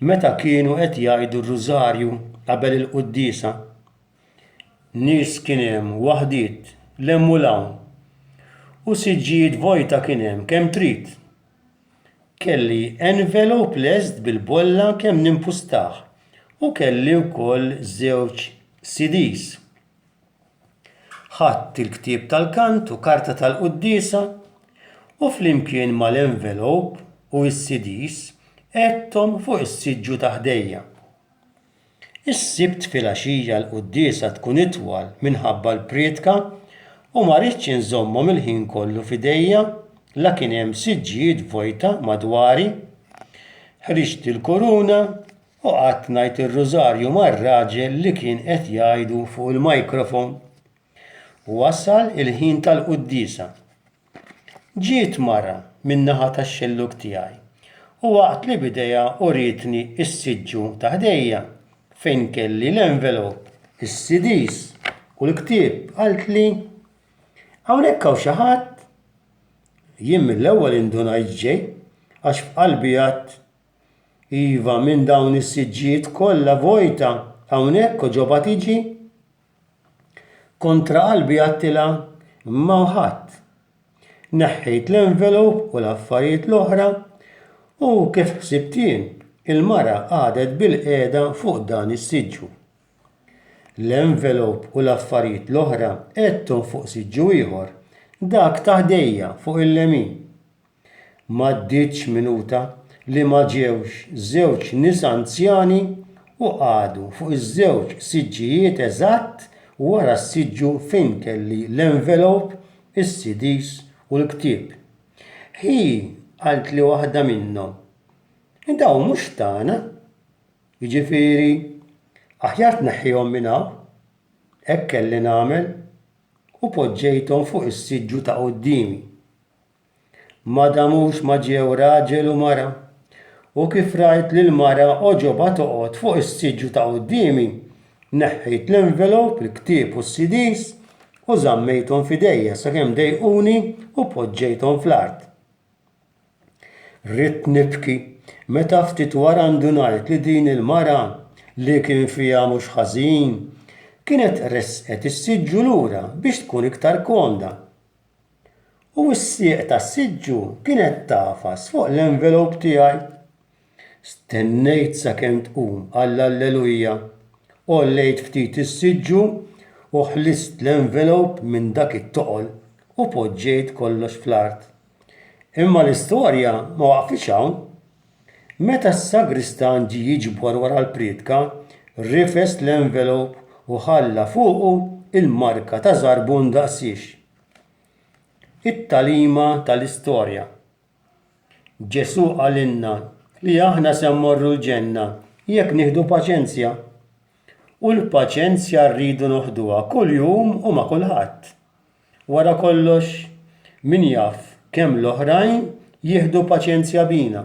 Meta kienu qed jgħidu r-Rużarju qabel il-quddiesa, nies kien hemm, waħdiet, 'l hemm u 'l hawn, u siġġijiet vojta kien hemm kemm trid. Kelli envelop lest bil-bolla kemm nimpustah u kelli wkoll żewġ CDs. Ħadt il-ktieb tal-kant u karta tal-quddiesa u flimkien mal-envelop u s-CDs qegħdthom fuq is-siġġu ta' ħdejja. Is-Sibt filgħaxija l-quddiesa tkun itwal minħabba l-prietka u ma ridtx inżommhom il-ħin kollu f'idejja la kien hemm siġġijiet vojta madwari. Ħriġt il-kuruna U qgħadt ngħid ir-rużarju mar-raġel li kien qed jgħidu fuq il-microphone. U wasal il-ħin tal-quddiesa. Ġiet mara min-naħa tax-xellug tiegħi u waqtli b'idejha u rietni s-siġġu ta' ħdejja fejn kelli l-envelop, is-CDs u l-ktieb qaltli, Hawnhekk hawn xi ħadd? Jien mill-ewwel indunajt x'ġej għax f'qalbi għadt Iva, minn dawn is-siġġijiet kollha vojta hawnhekk u ġobha tiġi? Kontra qalbi għedtilha, Imma u ħadd. Neħħejt l-envelop u l-affarijiet l-oħra u kif ħsibt jien, il-mara qagħdet bilqiegħda fuq dan is-siġġu. L-envelop u l-affarijiet l-oħra għedthom fuq siġġu ieħor, dak ta' ħdejja fuq il-lemin. M'għaddietx minuta li ma ġewx żewġ nisa anzjani u qagħdu fuq iż-żewġ siġġijiet eżatt wara s-siġġu fejn kelli l-envelop, is-CDs u l-ktieb. Hi qaltli waħda minnhom, Dawn mhux tagħna. Jiġifieri, aħjar tneħħihom minn hawn. Hekk kelli nagħmel u poġġejthom fuq is-siġġu ta' quddiemi. Ma damux ma ġew raġel u mara, u kif rajt lill-mara għoġobha toqgħod fuq is-siġġu ta' quddiemi, neħħejt l-envelop, il-ktieb u s-CDs u żammejthom f'idejja sakemm dejquni u poġġejthom fl-art. Ridt nibki meta ftit wara ndunajt li din il-mara, li kien fiha mhux ħażin, kienet ressqet is-siġġu lura biex tkun iktar komda. u s-sieq tas-siġġu kienet tagħfas fuq l-envelop tiegħi. Stennejt sakemm tqum għall-Alleluja, għollejt ftit is-siġġu u ħlist l-envelop minn dak it-toqol u poġġejt kollox fl-art. Imma l-istorja ma waqfitx hawn. Meta s-sagristan ġie jiġbor wara l-prietka, rifes l-envelop u ħalla fuqu l-marka ta' żarbun daqsiex. It-tagħlima tal-istorja. Ġesù qalilna li aħna se mmorru l-ġenna jekk nieħdu paċenzja. U l-paċenzja rridu noħduha kuljum u ma' kulħadd. Wara kollox, min jaf kemm l-oħrajn jieħdu paċenzja bina.